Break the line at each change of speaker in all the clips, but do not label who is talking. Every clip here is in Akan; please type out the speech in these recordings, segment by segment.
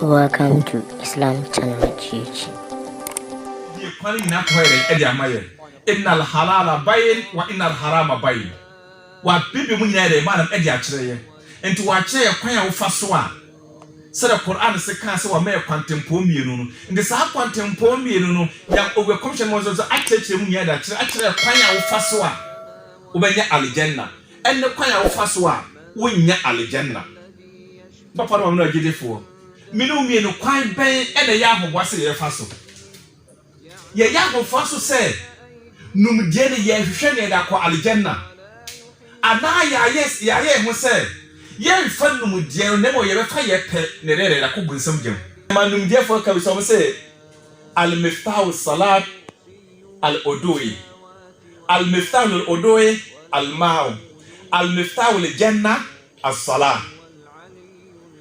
Welcome to Islam channel GH. Die kwan nyina kɔɛ dɛn
ɛde ama yɛn innal halala bayin wa innal harama bayin wa bibi mu nyina yɛ dɛn maanam ɛde akyerɛ yɛ nti wa kyerɛ yɛ kwan a wo fa so a sɛdɛ Qur'an se kaa sɛ wa ma yɛ kwantempɔɔ mmienu no nti saa kwantempɔɔ mmienu no Nya owɛ kɔmhyɛni Muhammad sallallahu alaihi wasallam akyerɛkyerɛ mu nyina ɛde akyerɛ akyerɛ yɛ kwan a wo fa so a wo bɛ nya Aljanna ɛne kwan a wo fa so a wo nnya Aljanna. Papa no ma me no agyidifoɔ. Me ne wo mmienu, kwan bɛn na ɛyɛ ahoboa sɛ yɛbɛfa so? Yɛyɛ ahoboa so sɛ numdeɛ no yɛrehwehwɛ nea yɛde akɔ Aljanna, anaa yɛayɛ yɛayɛ yɛn ho sɛ yɛremfa numdeɛ no na mmom yɛbɛfa yɛn pɛ na yɛde yɛde akɔ bonsam gya mu. Ma numdeɛfoɔ ka bi sɛ wɔn se, Al-Miftah Al-Salat Al-Udu'i, Al-Miftah Al-Udu'i Al-Ma'u, Al-Miftah Al-Jannah As-Salah.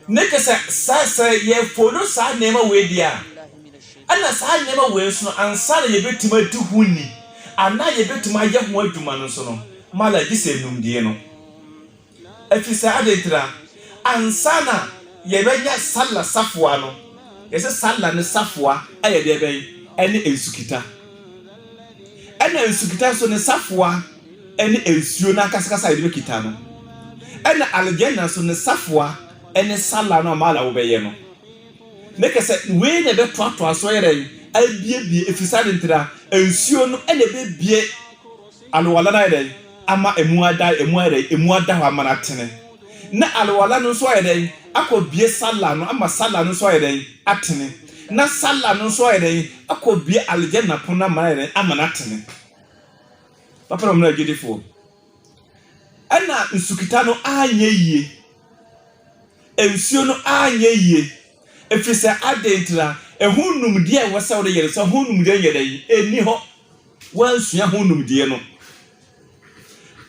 Ne kyerɛ sɛ, sɛ sɛ yɛ follow saa nneɛma wei deɛ a, ɛna saa nneɛma wei nso no, ansa na yɛbɛtumi adi ho ni, anaa yɛbɛtumi ayɛ ho adwuma no nso no, mala gye sɛ numdie no. Ɛfiri sɛ, adɛn nti na? Ansa na yɛbɛnya Salah safoa no, yɛsɛ Salah no safoa yɛ deɛ bɛn? Ɛne nsukita. Ɛna nsukita nso ne safoa ne nsuo no ankasakasa a yɛde bɛkita no, ɛna Aljanna nso ne safoa ne sala no a maala wobɛyɛ no. Ne kɛ sɛ wei na ɛbɛtoatoa so ayɛ dɛn? Abiebie, ɛfiri saa de ntira nsuo no na ɛbɛbie alwala no ayɛ dɛn? Ama ɛmu ada, ɛmu ayɛ dɛn? Ɛmu ada hɔ ama no atene. Na alwala no nso ayɛ dɛn? Akɔbie sala no ama sala no nso ayɛ dɛn? Atene. Na sala no nso ayɛ dɛn? Akɔbie Aljanna pono no ama no ayɛ dɛn? Ama no atene. Papa Ɔmena Agyidifoɔ, ɛna nsukita no anyɛ yie, nsuo no anyɛ yie, ɛfiri sɛ adɛn ntira, ɛho nnumdeɛ a ɛwɔ sɛ wode yɛ no, sɛ ho nnumdeɛ nyɛ dɛn, ɛnni hɔ, woansua ho nnumdeɛ no,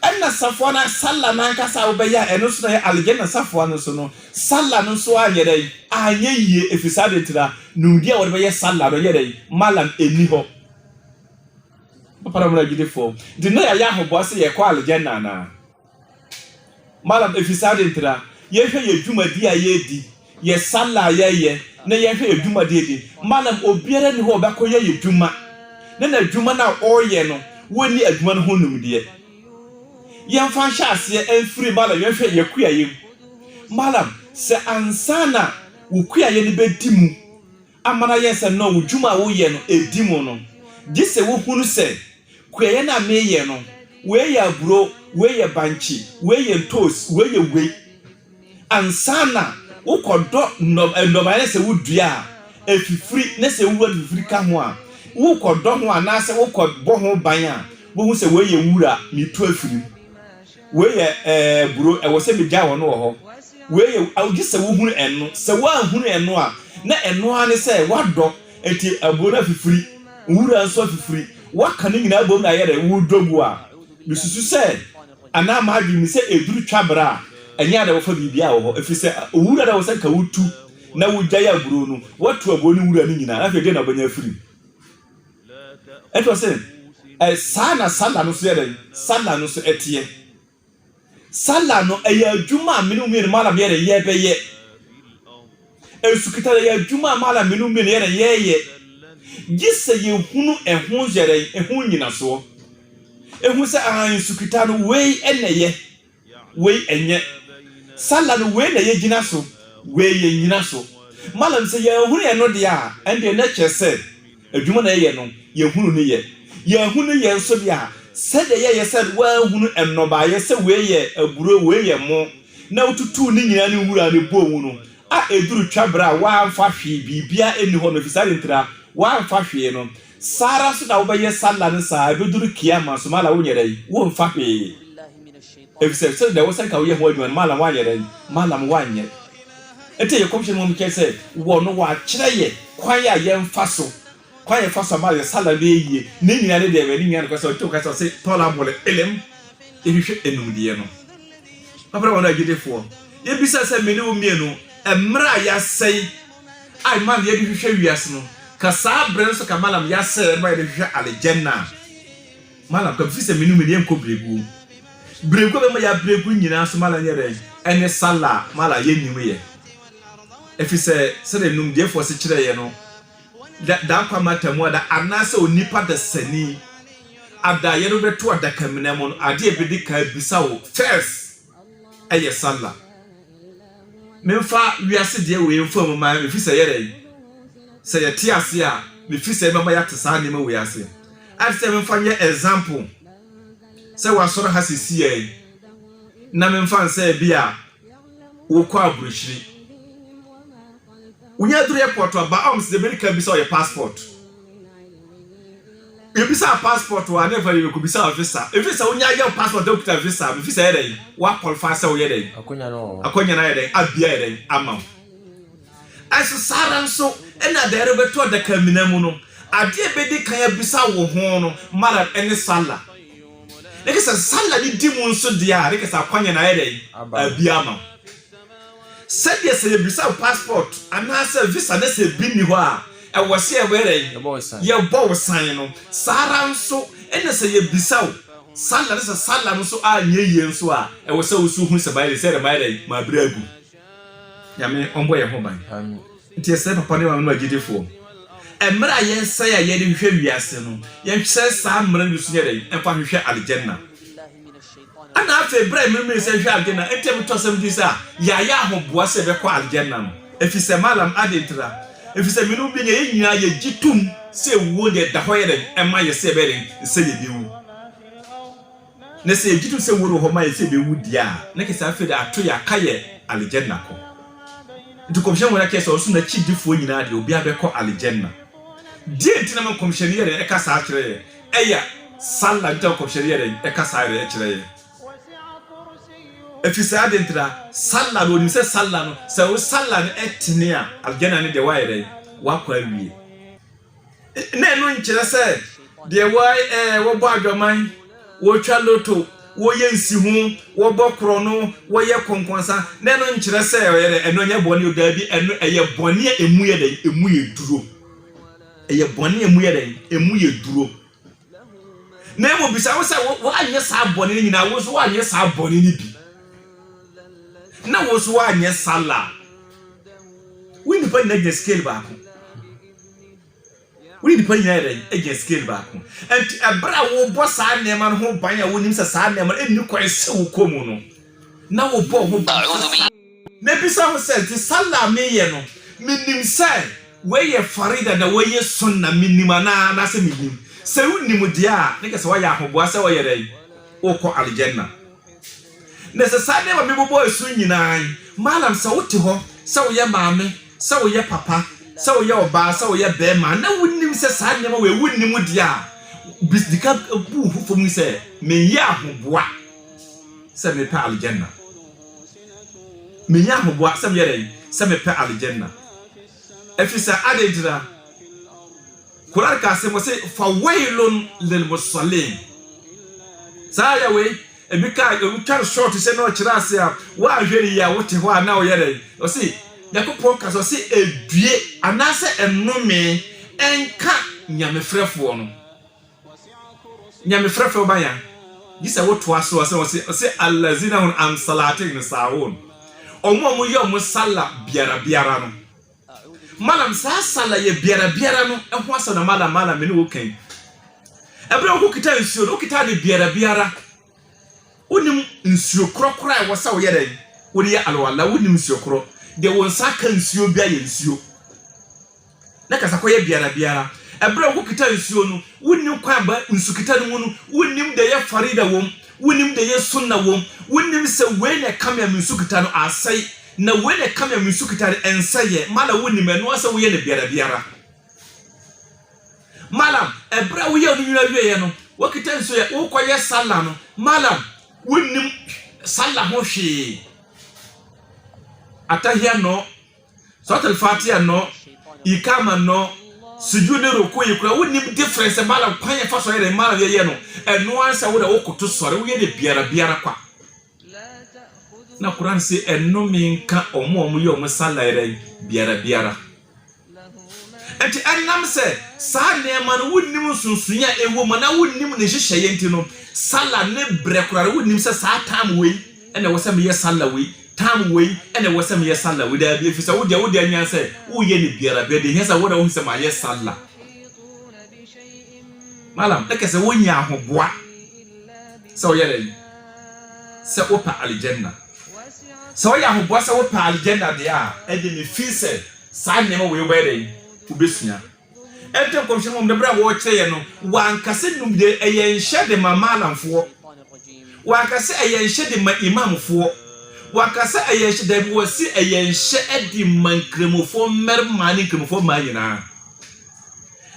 ɛna safoa no, salla no ankasa a wobɛyɛ a ɛno nso na ɛyɛ Aljanna safoa no nso no, salla no nso anyɛ dɛn, anyɛ yie, ɛfiri sɛ adɛn ntira, nnumdeɛ a wɔde bɛyɛ salla no, ɛyɛ dɛn, malam, ɛnni hɔ. Papa na mena gyidifo nti na yɛayɛ ahoboa sɛ yɛkɔ Aljanna anaa? Malam, Ɛfiri saa de ntira yɛhwɛ yɛ dwumadie a yɛredi, yɛ Salah a yɛyɛ ne yɛhwɛ yɛ dwumadie din. Malam, Obiara nni hɔ a ɔbɛkɔ yɛ yɛ dwuma ne n'adwuma no a ɔreyɛ no wɔnni adwuma no ho nimdeɛ. Yɛmfa nhyɛ aseɛ mfiri malam yɛnhwɛ yɛ kuayɛ mu. Malam, Sɛ ansa na wo kuayɛ no bɛdi mu Amanayɛ sɛ no wo dwuma a woyɛ no di mu no, gye sɛ wohunu sɛ kuayɛ no a meyɛ no, wei yɛ aburo, wei yɛ bankye, wei yɛ ntoosi, wei yɛ wei. Ansa na wokɔdɔ nnɔbaeɛ na sɛ wodua a ɛfifiri na sɛ nwura no fifiri ka ho a, wokɔdɔ ho anaasɛ wokɔbɔ ho ban a, wobɛhu sɛ wei yɛ nwura, metu afiri mu. Wei yɛ, ɛɛ, buro. Ɛwɔ sɛ megyae wɔn wɔ hɔ. Wei yɛ, ao, gye sɛ wohunu ɛno. Sɛ woanhunu ɛno a, na ɛno ara ne sɛ woadɔ. Enti aburo no afifiri, nwura nso afifiri. Woaka ne nyinaa abom na ayɛ dɛ, woredɔ gu a. Mesusu sɛ, anaa m'adwene mu, sɛ ɛduru twa berɛ a, ɛnyɛ a na wɔfa biribiara wɔ hɔ, ɛfiri sɛ owura no a ɛwɔ sɛ anka wotu na wogyae aburo no, woatu aburo no nwura no nyinaa, na afei ɛdeɛn na wobɛnya afiri mu? Ɛnna ɔse, Ɛ, saa na Salah no nso yɛ dɛn? Salah no nso teɛ. Salah no, ɛyɛ adwuma a me ne wo mmienu, Malam, yɛ dɛn? Yɛbɛyɛ. Asukitare yɛ adwuma a Malam, me ne wo mmienu yɛ dɛn? Yɛyɛ. Gye sɛ yɛhunu ɛho yɛ dɛn? Ɛho nnyinasoɔ. Ɛhu sɛ, aane, sukita no, wei na ɛyɛ. Wei ɛnyɛ. Salah no wei na yɛ gyina so wei yɛ nnyina so. Mallam sɛ yɛ ahunu ɛno deɛ a ɛndeɛ na ɛkyerɛ sɛ adwuma na yɛyɛ no yɛ hunu no yɛ. Yɛ ahunu yɛ nso deɛ a sɛdeɛ yɛ yɛ sɛ wa ahunu ɛnnɔbaeɛ sɛ wei yɛ aburo wei yɛ mo na wo tutuu ne nyinaa ne nwura no bɔɔ mu no a ɛduru twa berɛ a wa amfa hwee biribiara ɛnni hɔ no ɛfiri saa ade ntira wa amfa hwee no Saa ara nso na wobɛyɛ Sallah no saa a ɛbɛduru Qiyama nso, maala wonyɛ dɛn? Womfa hwee. Ɛfiri sɛ, sɛdeɛ ɛwɔ sɛ anka woyɛ ho adwuma no, maala woanyɛ dɛn? Maalam woanyɛ. Enti ɛyɛ Kɔmhyɛni Muhammad kyerɛ sɛ, wɔ no wɔakyerɛ yɛ kwan a yɛmfa so, kwan a yɛfa so a maala yɛ Sallah no bɛyɛ yie. Ne nyinaa ne deɛ bɛn? Ne nyinaa ne kwan sɛ ɔgye wo kwan sɛ ɔse, Tɔlabul ilim, yɛhwehwɛ animdeɛ no. M'abrabɔ no agyidifoɔ, yɛbisa sɛ me ne wo mmienu, mmerɛ a yɛasɛe, a ɛma no yɛde hwehwɛ wiase no ka saa berɛ no nso ka malam ya sɛ ɛma yɛde hwehwɛ alejɛnna a malam ka firi sɛ menu mede yɛnkɔ berɛguo berɛguo bɛma yɛ aberɛguo nyinaa nso malam yɛ dɛn ɛne sala malam yɛ nim yɛ ɛfiri sɛ sɛdeɛ numdeɛfoɔ se kyerɛ yɛ no da da nkwa mata mu ada anaasɛ onipa da sani ada yɛde bɛto adakamina mu no adeɛ bɛdi kan bisa wo first ɛyɛ salla. Memfa wiase deɛ wei mfa mu ma me fi sɛ yɛrɛ yi. Sɛ yɛte ase a, me fi sɛ mɛma yɛate saa nneɛma wei ase. Ate sɛ memfa nyɛ example sɛ wasɔre ha sisi yɛ yi, na memfa nsɛ bi a wokɔ aburokyiri. Wonya duru airport a ba ɔms de bɛdi kan bisa ɔyɛ passport. Yɛbisa passport a ne fa yɛbɛkɔ bisa visa. Ɛfiri sɛ wonya yɛ passport a wokita visa bɛfiri sɛ yɛ dɛn woakɔlfa sɛ woyɛ dɛn akɔnya no ayɛ dɛn abia yɛ dɛn ama wo. Ɛso saa ara nso ɛna deɛ ɛrebɛto adaka mina mu no adeɛ bɛdi kan abisa wo ho no mara ɛne sala. Ne kɛ sɛ sala ne di mu nso deɛ a ne kɛ sɛ akɔnya no ayɛ dɛn abia ama wo. Sɛdeɛ sɛ yɛbisa wo passport anaasɛ visa na sɛ bi nni hɔ a ɛwɔ sɛ yɛbɔ dɛn? Yɛbɔ wo san no, saa ara nso na sɛ yɛbisa wo sala na sɛ sala no nso anyɛ yie nso a ɛwɔ sɛ wo nso hu sɛ mayɛ dɛn, sɛ yɛde mayɛ dɛn, mabrɛ agu. Nyame ɔmmɔ yɛn ho ban. Nti yɛsrɛ papa ne maame nom agyidifoɔ, mmerɛ a yɛsɛe a yɛde hwehwɛ wiase no, yɛnkyerɛ saa mmerɛ no bi so nyɛ dɛn, mfa nhwehwɛ Aljanna. Ɛnna afei bere a Ememeresɛ hwɛɛ adwene a ɛte bɛtɔ asɛm din sɛ a yɛayɛ ahoboa sɛ yɛbɛkɔ Aljanna no, efisɛ Malam, adɛn ntira? Efisɛ me ne wo benya, yɛn nyinaa yegye tom sɛ wuo deɛ ɛda hɔ yɛ dɛn ɛma yɛn sɛ yɛbɛyɛ dɛn sɛ yebewu. Na sɛ yegye tom sɛ wuo no wɔ hɔ ma yɛn sɛ yebewu deɛ a, na kyerɛ sɛ afei de ato yɛn aka yɛ Aljanna kɔ. Nti Nkɔmhyɛni Muhammad kyerɛɛ sɛ ɔno nso n'akyidifoɔ nyinaa deɛ obiara bɛkɔ Aljanna. Deɛ nti na ma Nkɔmhyɛni yɛ dɛn ɛka saa kyerɛ yɛn? ɛyɛ saa na ntam kɔmhyɛne yɛ dɛn ɛka saa yɛrɛ ɛkyerɛ yɛ ɛfiri saa de ntira sala no onim sɛ sala no sɛ wo sala no ɛtene a aljana no deɛ wayɛ dɛn wakɔ awie na ɛno nkyerɛ sɛ deɛ wɔ ɛɛ wɔbɔ adwaman wɔtwa loto wɔyɛ nsi ho wɔbɔ korɔ no wɔyɛ kɔnkɔnsa na ɛno nkyerɛ sɛ ɔyɛ dɛ ɛno nyɛ bɔne o daabi ɛno ɛyɛ bɔne a ɛmu yɛ dɛn ɛmu yɛ duro Ɛyɛ bɔne a emu yɛ dɛn? Emu yɛ duro. Na mmom bisa wo sɛ, woanyɛ saa bɔne no nyinaa? Wo nso woanyɛ saa bɔne no bi? Na wo nso woanyɛ sala? Wo nipa nyinaa gyina scale baako. Wo nipa nyinaa yɛ dɛn? Gyina scale baako. Nti ɛberɛ a wobɔ saa nneɛma no ho ban a wonim sɛ saa nneɛma no ɛnni kwan sɛ wokɔ mu no, na wobɔ ho ban sɛ Mebisa ho sɛ, te sallah a meyɛ no, menim sɛ wei yɛ farida na wei yɛ sunnah, menim anaa? Anaasɛ mennim? Sɛ wonim deɛ a, na kyerɛ sɛ woayɛ ahoboa sɛ woyɛ dɛn? Wokɔ Aljanna. Na sɛ saa nneɛma a mebobɔ asu nyinaa yi, malam sɛ wote hɔ, sɛ woyɛ maame, sɛ woyɛ papa, sɛ woyɛ ɔbaa, sɛ woyɛ barima, na wonim sɛ saa nneɛma wei wonim deɛ a, bis, di kan bu wo ho fam sɛ, Meyɛ ahoboa sɛ mepɛ Aljanna. Menya ahoboa sɛ meyɛ dɛn? Sɛ mepɛ Aljanna. Efisɛ adɛn nti na? Qur'aan ka asɛm ɔse, Fa waylun lil musalliin. Saa ayɛ wei, ebi ka ebi twa no short sɛ na ɔkyerɛ ase a, woanhwɛ no yie a wote hɔ a na ɔyɛ dɛn? Ɔse, Nyankopɔn ka sɛ ɔse edue anaasɛ ɛnome ɛnka Nyamefrɛfoɔ no. Nyamefrɛ fɛ ɔba yan gyesɛ wotoa so ɔsɛ ɔsɛ ɔsɛ alazina hun an salate hin saun ɔmo ɔmo yɛ ɔmo sala biara biara no malam saa sala yɛ biara biara no ɛho asɛm na malam malam mene wo kan ɛberɛ wokɔ kita nsuo no wokita ne biara biara Wonim nsuo korɔ korɔ a ɛwɔ sɛ woyɛ dɛn wode yɛ alwala wonim nsuo korɔ deɛ wo nsa aka nsuo bi ayɛ nsuo na kasa kɔyɛ biara biara ɛberɛ a wokita nsuo no wonim kwan ba nsukita no mu no wonim deɛ yɛ farida wom wonim deɛ yɛ sunna wom wonim sɛ wei na ɛka me a me nsukita no asɛe na wei na ɛka me a me nsukita no ɛnsɛeɛ mala wonim ɛno asɛ woyɛ no biara biara Malam, ɛberɛ a woyɛ wo nwera wieɛ no, wokita nsuo yɛ, wokɔyɛ Salah no, Malam, wonnim Salah ho hwee. Atahia nnɔ, Surat al-Fatiha nnɔ, Ikama nnɔ, Sujud ne Ruku yi kura, wonnim difference, Malam, kwan yɛfa so yɛ dɛ, Malam yɛyɛ no, ɛno ara sɛ wo dɛ wokoto sɔre, woyɛ dɛ biara biara kwa. Na Qur'aan se, Nnome nka wɔn a wɔyɛ wɔn salairan biara biara. Enti ɛnam sɛ saa nneɛma no wonnim nsonsonoe a ɛwɔ mu anaa wonnim ne nhyehyɛeɛ nti no, sala ne berɛ koraa no wonnim sɛ saa time wei ɛna ɛwɔ sɛ meyɛ sala wei, time wei ɛna ɛwɔ sɛ meyɛ sala wei. Daabi, ɛfiri sɛ wodeɛ wode anyan sɛ woyɛ no biara biara, deɛ ɛhia sɛ wona wohu sɛ mayɛ sala. Malam, na kɛsɛ wonya ahoboa. sɛ ɔyɛ dɛn sɛ wopɛ Aljanna. Sɛ ɔyɛ ahoboa sɛ wopɛ Aljanna deɛ a, ɛnde mefii sɛ saa nneɛma wei wobɛyɛ dɛn? Wobɛsua. Ɛnte Nkɔmhyɛni Muhammad no berɛ a wɔrekyerɛ yɛn no, wanka sɛ num deɛ ɛyɛ nhyɛ de ma Maalamfoɔ. Wanka sɛ ɛyɛ nhyɛ de ma Imamfoɔ. Wanka sɛ ɛyɛ nhyɛ, daabi, wɔse ɛyɛ nhyɛ de ma Nkramofoɔ mmarima ne Nkramofoɔ mmaa nyinaa.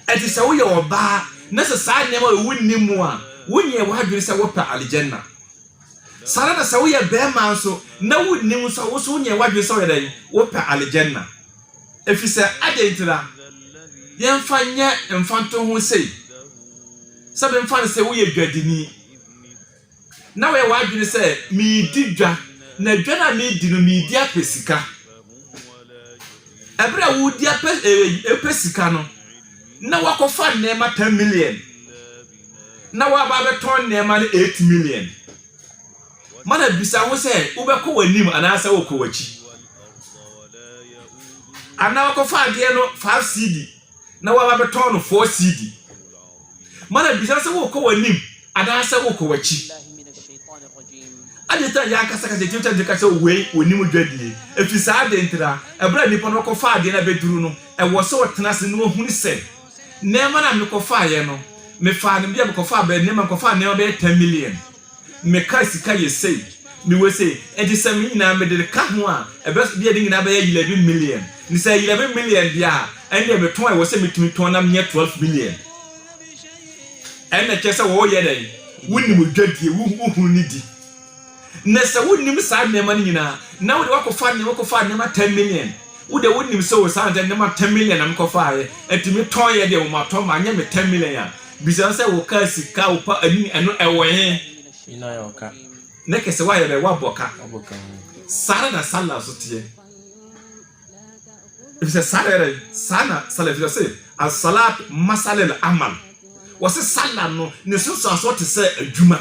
Ɛte sɛ woyɛ ɔbaa na sɛ saa nneɛma wei wonni mu a, wonyɛɛ w'adwene sɛ wopɛ Aljanna. Saa ara na sɛ woyɛ barima nso na wonnim nso a, wo nso wonyɛɛ w'adwene sɛ woyɛ dɛn? Wopɛ Aljanna. Ɛfiri sɛ, adɛn ntira? Yɛmfa nyɛ mfantoho sei, sɛ memfa no sɛ woyɛ dwadini. na wayɛ w'adwene sɛ meredi dwa, na dwa no a meredi no, meredi apɛ sika. Ɛberɛ a woredi apɛ eh, sika no, na wakɔfa nneɛma 10 million, na waba abɛtɔn nneɛma no 8 million. Mana bisa wo sɛ wobɛkɔ w'anim anaasɛ wokɔ w'akyi. Anaa wakɔfa adeɛ no 5 CD. na waba bɛtɔn no four cedi. Mana bisa sɛ wokɔ w'anim anaasɛ wokɔ w'akyi. Agye sɛ yɛn ankasa kasa etumi kyɛn de ka sɛ wei onim dwadie. Efi saa ade ntira, ɛberɛ a nipa no kɔfa adeɛ no abɛduru no, ɛwɔ sɛ ɔtena ase na ɔhunu sɛ nneɛma no a mekɔfaeɛ no, mefaa no bia mekɔfaa bɛɛ nneɛma mekɔfaa nneɛma bɛyɛ ten million. Me car sika yɛ sei, me wei sei, enti sɛ me nyinaa mede ka ho a, ɛbɛ bi a ne nyinaa bɛyɛ eleven million. Nti sɛ ɛyɛ eleven million deɛ a, ɛnneɛ metɔn a ɛwɔ sɛ metumi tɔn na menyɛ twelve million. Ɛnna kyerɛ sɛ wɔreyɛ dɛn? Wonim odwadie, wo wohunu ne di. Na sɛ wonim saa nneɛma no nyinaa, na wode wakɔfa nneɛma, wokɔfa nneɛma ten million. Wode wonim sɛ o saa nneɛma ten million na mekɔfaeɛ, ɛnti metɔn yɛ deɛ, wɔatɔn ma anyɛ me ten million a. Bisa sɛ wɔkaa sika a wɔpa ani no ɛno ɛwɔ he? Nyina yɛ ɔka. Ne kɛsɛ woayɛ dɛ woabɔ ka. Wabɔ ka ho. Saa ara na sala nso teɛ. Efisɛ saa na yɛdɛ saa na sala efisɛ se asalat masalil amal. Wɔse sala no ne nsunsuansoɔ te sɛ adwuma.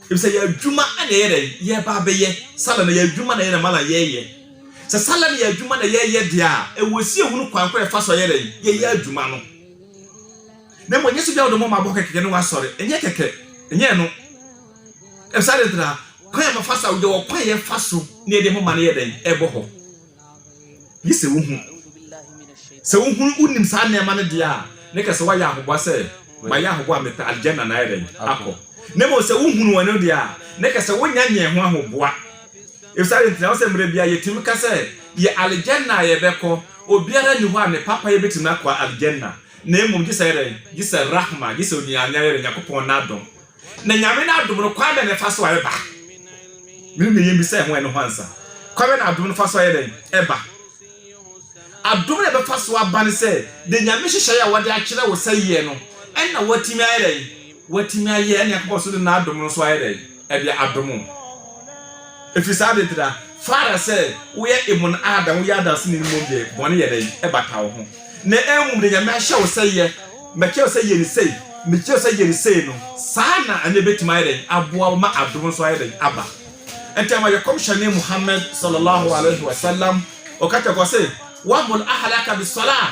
Efisɛ yɛ adwuma na yɛyɛ dɛ yɛba abɛyɛ. Sala no yɛ adwuma na yɛ na mala yɛyɛ. Sɛ sala no yɛ adwuma na yɛyɛ deɛ a ɛwɔ si ehunu kwan koro a yɛfa so yɛ dɛ yɛyɛ adwuma no. na mmom ɛnyɛ sɛ obi a wɔde mmɔma abɔ kɛkɛ ne wasɔre ɛnyɛ kɛkɛ ɛnyɛ ɛno ɛbisa de tra kwan a wɔfa sa yɛwɔ kwan yɛfa so ne yɛde mmɔma no yɛ dɛn ɛbɔ hɔ gye sɛ wohu sɛ wohunu wonim saa nneɛma no deɛ a ne kɛ sɛ woayɛ ahoboa sɛ mayɛ ahoboa a mepɛ aljanna na ayɛ dɛn akɔ na mmom sɛ wohunu wɔn no deɛ a ne kɛ sɛ wonya nyɛ ho ahoboa Ebisa dɛn nti na ɛwɔ sɛ mmerɛ biara yɛtumi ka sɛ yɛ Aljanna a yɛbɛkɔ, obiara nni hɔ a ne papa yɛ bɛtumi no akɔ Aljanna na mmom gye sɛ dɛn? Gye sɛ Rahma, gye sɛ onianyayɛrɛ, Nyankopɔn n'adom. Na Nyame n'adom no kwan bɛn na ɛfa so a ɛba? Menim deɛ yɛmmisa ɛho ɛno ho ansa. Kwan bɛn na adom no fa so a ɛyɛ dɛn? Ɛba. Adom no a ɛbɛfa so aba ne sɛ, deɛ Nyame hyehyɛeɛ a wɔde akyerɛ wo sɛ yɛ no, ɛnna woatumi ayɛ dɛn? watumi ayɛ ɛne Nyankopɔn so de n'adom no nso ayɛ dɛn? Ɛde adom wo. Ɛfiri saa de ntina, fa ara sɛ woyɛ Emon Adam, woyɛ adanseni no mmom deɛ, bɔne yɛ dɛn? Ɛbata wo ho. Na mmom deɛ Nyame ahyɛ wo sɛ yɛ, makyerɛ wo sɛ yɛ no sei, mekyerɛ wo sɛ yɛ no sei no, saa na ɛno ɛbɛtumi ayɛ dɛn? Aboa wo ma adom nso ayɛ dɛn? Aba. Ɛnti ama yɛ Kɔmhyɛne Muhammad Sallallahu Alaihi Wasallam, ɔka kyerɛ kɔ se, Wa'mur Ahalaka Bis-Salah,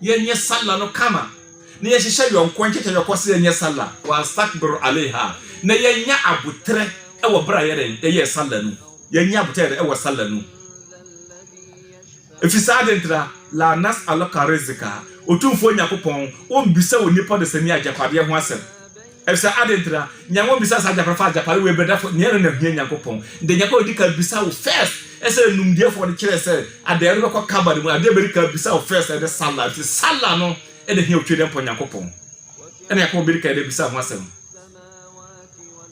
Yɛnyɛ Sallah no kama, na yɛnhyehyɛ yɔnkoɔ nkyɛkyɛ yɔkɔ sɛ yɛnyɛ Sallah, Wanstakbir aleyha, na yɛnyɛ aboterɛ wɔ berɛ a yɛyɛ dɛn? Yɛyɛ Sallah no. Yɛnyɛ aboterɛ wɔ Sallah no. Ɛfiri sɛ adɛn ntira? Laa nas'aluka rizika, Otumfoɔ Nyankopɔn, Ɔmmbisa wo nnipa ɔdesani agyapadeɛ ho asɛm. Efisɛ adɛn nti na nea wɔbisa saa agyapade fa agyapade wɔ abirɛdafo nea ɛno na ehia Nyankopɔn de Nyankopɔn di kan bisa wo first ɛsɛ numdeɛfo wɔde kyerɛ sɛ adɛn no bɛkɔ kaba no mu adeɛ bɛdi kan bisa wo first ɛne sala nti sala no ɛna ehia otwe dɛmpɔ Nyankopɔn ɛna Nyankopɔn bɛdi kan de bisa ho asɛm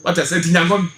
wata sɛ nti Nyankopɔn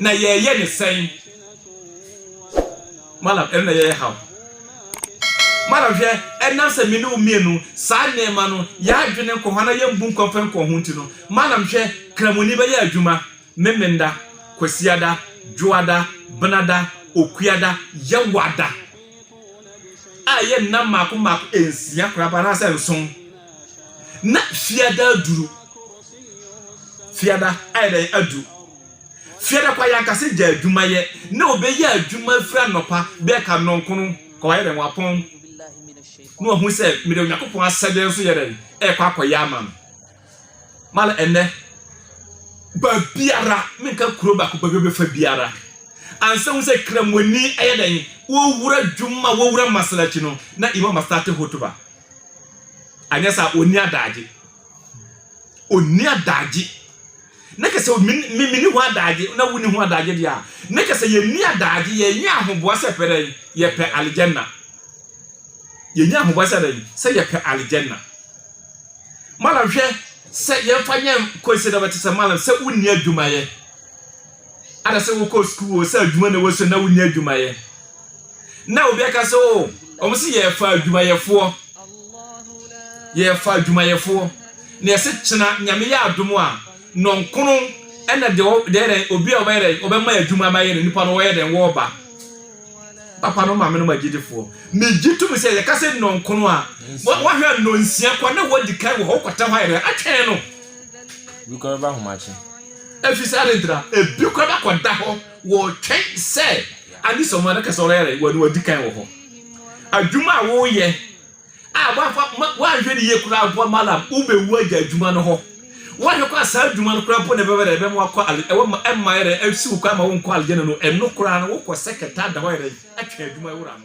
na yɛyɛ ne sɛn madam ɛno na yɛyɛ haw madam hwɛ ɛnam sɛ me ne wo mmienu saa nneɛma no yɛadwene nkɔ hɔ na yɛmbu nkɔ mfa nkɔ ho nti no madam hwɛ kramoni bɛyɛ adwuma memenda kwasiada dwoada benada okuada yɛwada a ɛyɛ nna mmaako mmaako nsia koraba anaasɛ nson na fiada aduru fiada ayɛ dɛ adu fiada kwa yankase gya adwuma yɛ na obɛyɛ adwuma firi anɔpa bɛɛ ka nɔnkono kwa wayɛ dɛn wapɔn na wahu sɛ mede onyankopɔn asɛdeɛ nso yɛ dɛn ɛkɔ akɔyɛ ama no Ma no ɛnnɛ, baabiara, menka kuro baako, baabi bɛfa biara, ansa hu sɛ Kramoni ayɛ dɛn, wɔwura dwuma, wɔwura masalakyi no, na Imam astate hotuba. Anyɛ saa, ɔnni adagye. Ɔnni adagye. Ne kɛ sɛ meni ho adagye, na wonni ho adagye deɛ a, ne kɛ sɛ yɛnni adagye, yɛnyɛ ahoboa sɛ pɛ dɛn, yɛpɛ aljanna. Yɛnyɛ ahoboa sɛ dɛn, sɛ yɛpɛ aljanna. Malam hwɛ sɛ yɛmfa nyɛ Kwesi na bɛte sɛ Malam sɛ wonni adwuma yɛ ada sɛ wokɔ sukuu o sɛ adwuma na wɔsua na wonni adwuma yɛ na obi aka sɛ o wɔn sɛ yɛfa adwumayɛfoɔ yɛfa adwumayɛfoɔ na yɛsɛ kyena nyame yɛ adom a nɔnkono ɛna deɛ dɛn obi a ɔbɛyɛ dɛn ɔbɛma adwuma ma yɛ na nipa no wɔyɛ dɛn wɔba papanom maamenom agyidifoɔ megye tom sɛ yɛka sɛ nnɔnkono a wahwɛ a nnɔnsia kɔ na wadi kan wɔ hɔ wokɔtɛ hɔ ayɛdɛ atwɛn no bi kɔ
bɛba ahomakye ɛfiri sɛ ade
ntra ebi kɔ bɛkɔda hɔ wɔtwɛn sɛ ade sɛ ɔmo adaka sɛ ɔreyɛrɛ wɔne wadi kan wɔ hɔ adwuma a woyɛ a w'afa ma w'anhwɛ ne yie koraa mpo a malam wo bɛ wu agya adwuma no hɔ w'anhwɛ kɔ a saa adwuma no koraa mpo na ɛbɛbɛ dɛ ɛbɛma wakɔ ale ɛwɔ ma ɛmma yɛ dɛ ɛsi wo koraa ma wo nkɔ alegye no ɛno koraa no wokɔ sɛ kɛtɛ ada hɔ yɛ dɛ ɛtwɛn adwuma ɛwura no.